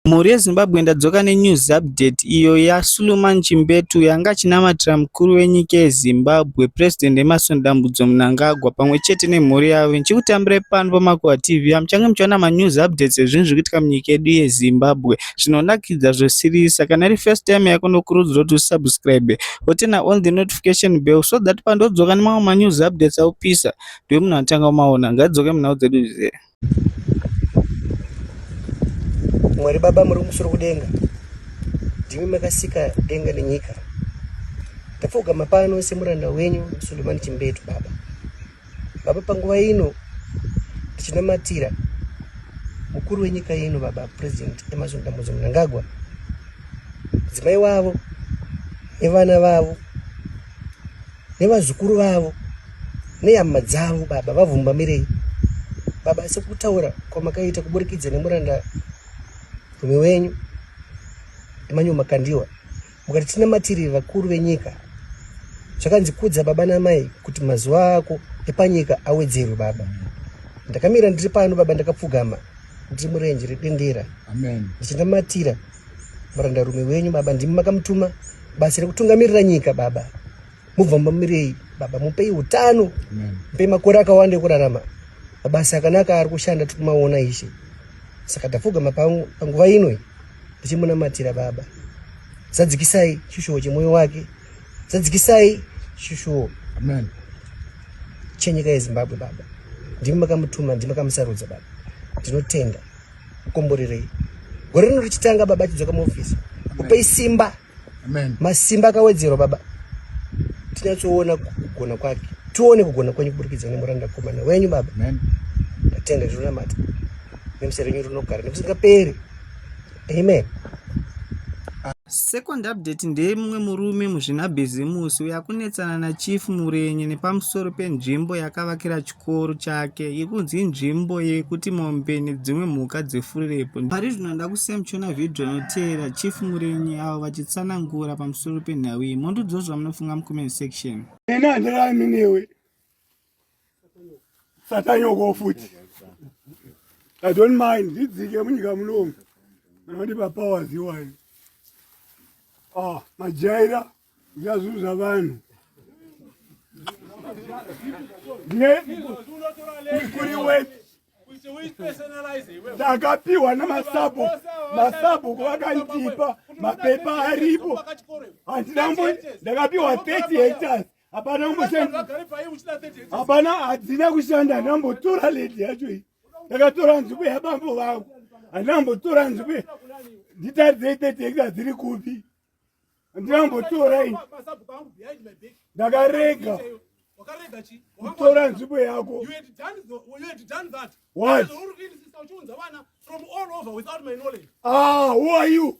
Mhuri yeZimbabwe ndadzoka nenews update iyo yaSuluman Chimbetu yanga achinamatira mukuru wenyika yeZimbabwe President Emmerson Dambudzo Mnangagwa pamwe chete nemhuri yavo ndichikutambirai pano paMakuva TV apo muchange muchiona manews updates ezvinhu zviri kuitika munyika yedu yeZimbabwe zvinonakidza zvosirisa kana iri first time yako ndokurudzira kuti usubscribe wotena on the notification bell so that pandodzoka nemamwe manews updates aupisa ndiwe munhu atanga umaona ngaidzoke munhau dzedu zve mwari baba muri musoro kudenga ndimi makasika denga nenyika ndapfugama pano semuranda wenyu sulemani chimbetu baba baba panguva ino ndichinamatira mukuru wenyika ino baba president emerson dambudzo munangagwa mudzimai wavo nevana vavo nevazukuru vavo nehama dzavo baba vavhumbamirei baba asi kutaura kwamakaita kuburikidza nemuranda rume wenyu emanyu makandiwa mukati tinamatiri vakuru venyika zvakanzi kudza baba namai kuti mazuva ako epanyika awedzerwe baba ndakamira ndiri pano baba ndakapfugama ndiri murenje redendera ndichinamatira murandarume wenyu baba ndimi makamutuma basa rekutungamirira nyika baba mubva mamirei baba mupei utano mupei makore akawanda ekurarama mabasa akanaka ari kushanda tiri kumaona ishe saka tapfugama panguva ino tichimunamatira baba zadzikisai chishuwo chemwoyo wake zadzikisai chishuwo chenyika yezimbabwe baba ndimi makamutuma ndimi makamusarudza baba ndinotenda kukomborerei gore rino richitanga baba achidzoka muofisi kupei simba masimba akawedzerwa baba tinyatsoona kugona kwake tione kugona kwenyu kuburikidza nemuranda komana wenyu baba tatenda zvinonamata nemusa renyu rinogara nemusingaperi amen Second update ndeye mumwe murume muzvinabhizimusi uyo akunetsana naChief Murenye nepamusoro penzvimbo yakavakira chikoro chake yekunzi inzvimbo yekuti mombe nedzimwe mhuka dzifurepo. Pari zvino nda kusemchona vhidhiyo inoteera Chief Murenye avo vachitsanangura pamusoro penhau iyi. Mondiudzawo zvamunofunga mucomment section. Ena handirarami newe. satanyoko futi i don't mind ndidzike munyika munomu anondipa powers iwayo ah majaira ya zvinhu zvavanhu kuri weti ndakapiwa namasabu masabu kuvakandipa mapepa aripo handinambo ndakapiwa 30 hectars hapana kumboshanda hapana hadzina kushanda handina mbotora ledi yacho iyi ndakatora nzvimbo yabambo vangu handina mbotora nzvimbo nditaridzei thirty hekta dziri kupi handina kumbotora ini ndakarega kutora nzvimbo yako ah who are you